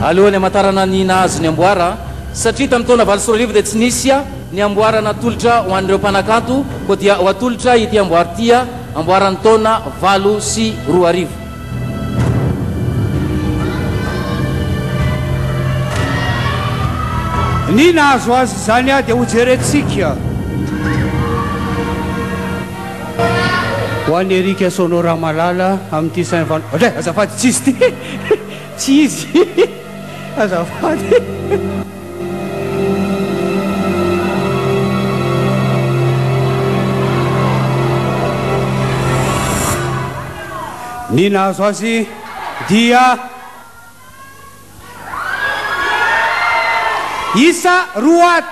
Alohan'ny hamantarana ny nahazo ny amboara, satria tamin'ny taona valo sy roa arivo dia tsy nisy ny amboara natolotra ho an'ireo mpanakanto, koa dia ho atolotra ity amboara ity amboaran'ny taona valo sy roa arivo. Ny nahazo azy izany aho dia hojerentsika ho an'i Eric Sono Ramalala amin'ity saint val, azafady tsy izy ity, tsy izy. azafady. Ny nahazo azy dia isa roa.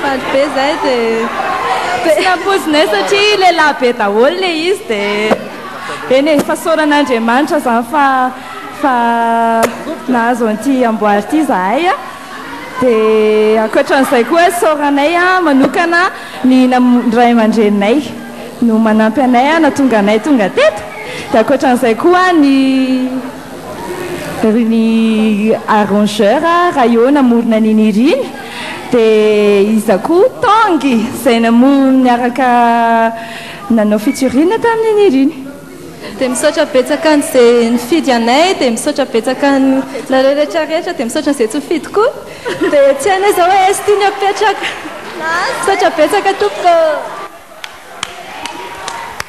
Faly be zahay de tsy nampoizinay satria lehilahy be daholo le izy de eny e fasaorana Andriamanitra zany fa fa nahazo an'ity amboara ity zahay a de ankoatran'izay koa isaoranay a manokana ny ray aman-dreninay no manampy anay a nahatonga anay tonga teto de ankoatran'izay koa ny Ry ny arrangeur raha eo namorona an'iny hira iny dia iza koa? Tanguy izay namory niaraka nanao featuring tamin'iny hira iny. Dia misaotra betsaka an'izay nifidy anay dia misaotra betsaka anareo rehetra rehetra dia misaotra an'izay tsy nifidy koa dia tsy hainay izao hoe aiza ty ny apetraka. Misaotra betsaka tompoko.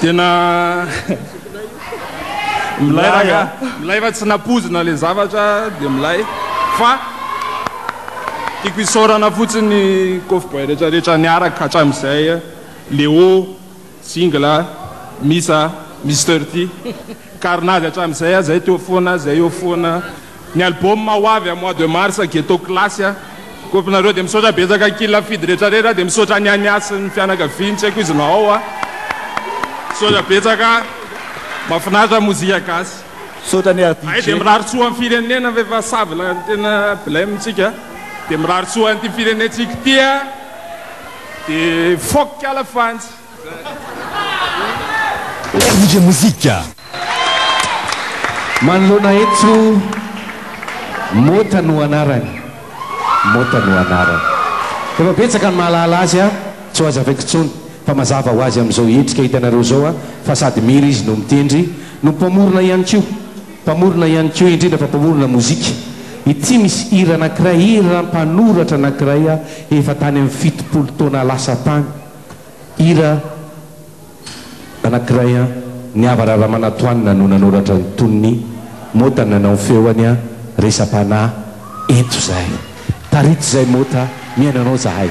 Tena milay ranga, milay fa tsy napozina le zavatra dia milay fa tiako isaorana fotsiny ny Koffi Boy rehetra rehetra niaraka hatramin'izay, Leo, Single, Misa, Mister T, Carnage hatramin'izay, zay teo foana, zay eo foana. Ny album ho avy am mois de mars Ghetto Class a. Kôpy nareo de misaotra betsaka ankil Afidy retrarera de misaotra an'i Ania sy ny fianakaviany tsy haiko izy na ao a. Misaotra betsaka a. Mafinaritra mozika gasy. Misaotra anie Afidy. Hay de mirary soa am firenena ve fa savona no tena blem tsika. De mirary soa an'ity firenentsika ity a. De fok ala fantsy. Merveilleux musique! Manoloana eto, Mota no anarany, Mota no anarany. Efa betsaka ny mahalala azy an, tsy ho azavaiko intsony fa mazava ho azy amin'izao hetsika hitanareo izao an, fa sady mihira izy no mitendry, no mpamorona ihany koa, mpamorona ihany koa, indrindra fa mpamorona mozika. Ity misy hira anankiray, hira mpanoratra anankiray efa tany amin'ny fitopolo taona lasa tany. Hira anankiray an, ny Havara Ramanatoanina no nanoratra ny tonony, Mota nanao ny feony an, resa-panahy eto zahay. Tarito zay Mota, mihaino anao zahay.